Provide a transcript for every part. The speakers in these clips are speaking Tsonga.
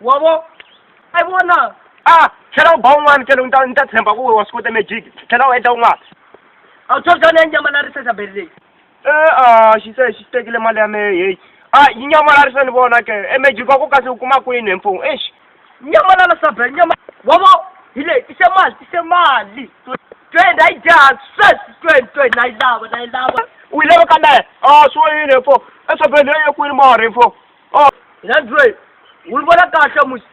wa vo a yi vona a tlhela u ba un'wana tlhelo ni ta ni ta tshemba ku wa swi kota magic tlhela u endla un'wana a wu tshotshana ya nyama na risesa beri leyi e a xi se xi tekile mali ya mehe heyi a yi nyamalarisa ni vona ke e magic wa ku kasi u kuma kwini hi mfumo exi nyamalala saberi nyama wa vo hi leyi tise mali tise mali twenty a yi dyaha sweswi twenty twenty na yi lava na yi lava u yi lava ka mehe a swi wayini hi mfumo e sabeni leyi ye kwini mara hi mfumo o Android wu vona kahle musi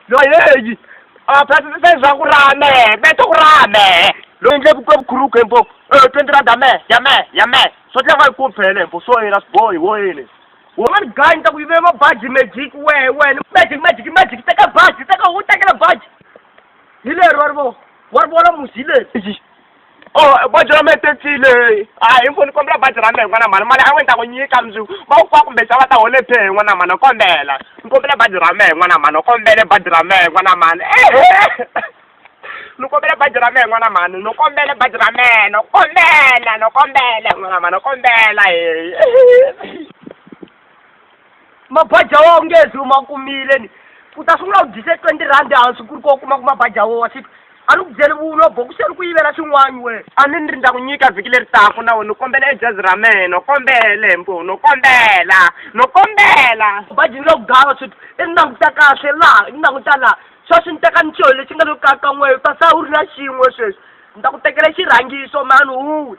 lo heyi a phasisisa leswaku ra me me to ku ra me lo endle ku ka vukhuruku hembo e twenty rand ya me ya me ya me so tlhe va yi ku phele hembo so yena swibohi wo yini wo mani gayi ta ku yivele mabaji magic we wena magic magic magic teka baji teka wu tekela baji hi lero wa ri vo wa ri vona musi hi leri. Oh, baji ra mina tekile. Hayi, info ni kombela baji ra mina n'wana mhani. Mali a wu ta ku nyika mundzuku. Va ku kwaka kumbe xava ta hole pay n'wana mhani kombela. Ni kombela baji ra mina n'wana mhani kombela baji ra mina n'wana mhani. Ni kombela baji ra mina n'wana mhani ni kombela baji ra mina ni kombela ni kombela n'wana mhani ni kombela heyi. mabaja wa nge zi u ma kumile ni u ta sungula u dyise twenty rhandi hansi ku ri ko kuma ku mabaja wo wa xi a ni ku byeli vulo boku se ri ku yivela xin'wani we a ni ni ri ndza ku nyika vhiki leri taku na we ni kombela ejazi ra mehe no kombela hembo no kombela no kombela baji ni lo ku gava sweswi i ni languta kahle laha i ni languta laha sweswi ni teka nichoho lexi nga lo kakan'weyo ta sa u ri na xin'we sweswi ni ta ku tekela xirhangiso mani huwe